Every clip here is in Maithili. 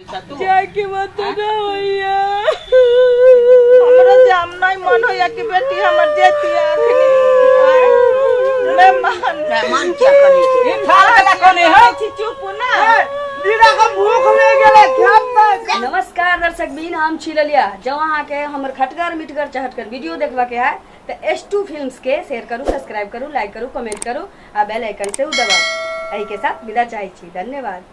जाए के मत ना होइया हमरा जाम नहीं मन होइया कि बेटी हमर जेती आखनी मैं मान मैं मान क्या करी ये फाल कला कोने है छी चुप ना दीदा को भूख ले गेले खेत पे नमस्कार दर्शक बीन हम छी ललिया जब अहाँ के हमर खटगर मिटगर चहटगर वीडियो देखबा के है तो एस टू फिल्म के शेयर करू सब्सक्राइब करू लाइक करू कमेंट करू आ बेल आइकन से दबाऊ एहि के साथ विदा चाहे छी धन्यवाद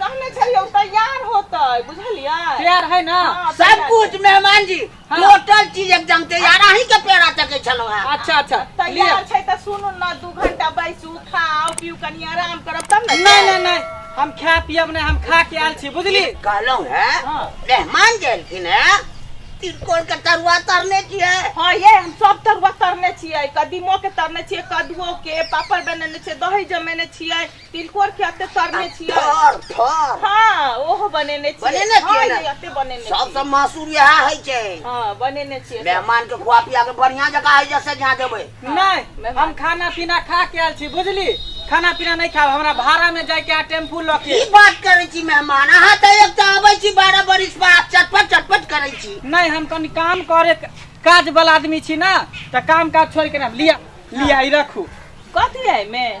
कहने छलियै ओ तैयार होतै बुझलियै तैयार है ना हाँ, सब तैयार कुछ छै। मेहमान जी हाँ। टोटल चीज एकदम तैयार अहीं के पेड़ा तके छलहुँ हैं अच्छा अच्छा लिअ तैयार छै तऽ सुनू ने दू घंटा बैसू खाउ पिउ कनि आराम करब तब ने नहीं नहीं नहीं हम खा पियब नहीं हम खा के आयल छी बुझली कहलहुँ हैं हाँ। मेहमान जे एलखिन हैं तिरकोर के तरुआ तरने छियै हाँ ये हम सब तरुआ तरने छियै कदीमो के तरने छियै कदुओ के पापड़ बनेने छियै दही जमेने छियै तिलकोर के अते तरने छियै थर थर हाँ ओहो बनेने छियै बनेने छियै हाँ, ने? ये अते बनेने छियै सबसँ मासुर इएह होइ छै हाँ बनेने छियै सब। मेहमान के खुआ पिया के बढ़िया जकाँ है जैसे जहाँ देबै नहि हम खाना पीना खा के आयल छी बुझली खाना पीना नहि खाब हमरा भाड़ा में जाय के आ टेम्पू लऽ की के बात करै छी मेहमान अहाँ तऽ एक तऽ अबै छी बारह बरिस पर आब चटपट चटपट करै छी नहि हम कनि काम करे काज वाला आदमी छी ना तऽ काम काज छोड़ के ना लिया लिया ई रखू कथी है में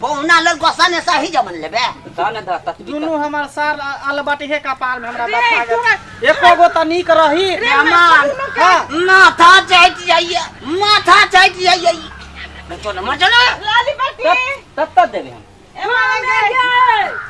पहुना लग गोसा ने सही जमन लेबे ता ने दा तत दुनू हमार सार अलबट हे कपार में हमरा बात आ गया एको गो त नीक रही मेहमान हाँ। माथा चट जाइए माथा चट जाइए चलो मर चलो लाली बाटी तत तत देबे हम एमा लगे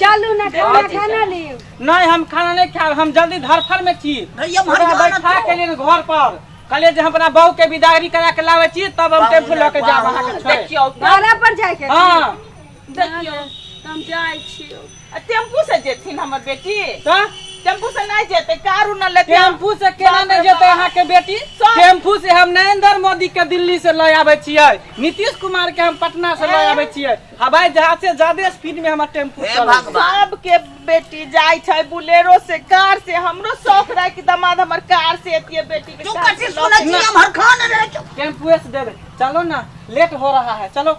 चलू ना खाना खाना लियो नहीं हम खाना नहीं खाएब हम जल्दी धरफर में छी भैया मर ओकरा जाना बैठा तो। के लिए घर पर कहलिए जे हम अपना बहू के विदागरी करा के लावे छी तब हम टेम्पू लऽ के जाब अहाँ के छोड़े देखियो घर पर जाए के हाँ देखियो हम जाए छियो टेम्पू से जेथिन हमर बेटी तो टेम्पू से नहीं जेते कार उर न लेते टेम्पू से केना बाप रे नहीं जेते बाप। यहाँ के बेटी सब। टेम्पू से हम नरेंद्र मोदी के दिल्ली से ले आवे छियै नीतीश कुमार के हम पटना से ले आवे छियै हवाई जहाज से ज्यादा स्पीड में हमर टेम्पू हे चलै छै। भगवान। सबके बेटी जाय छै बुलेरो से कार से हमरो शौक रहे कि दामाद हमर कार से एतिए बेटी के तू कार से कथी लऽ सुनै के। छी हम हर खान रे टेम्पुए से देबै चलो ना लेट हो रहा है चलो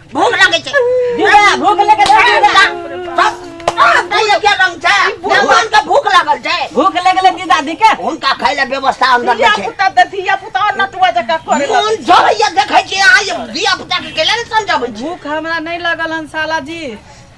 भूख लगे छै दीदा भूख लगे छै दीदा तैयो के रंग छै भगवान के भूख लागल छै भूख लगले दीदा दी के हुनका खाय ले व्यवस्था अंदर धिया नहि छै पुता दे धिया पुता नटुआ जका करे लग मोन जरैया देखै छी अहाँ जे धिया पुता के केले ने समझबै छी भूख हमरा नहीं लगल हन साला जी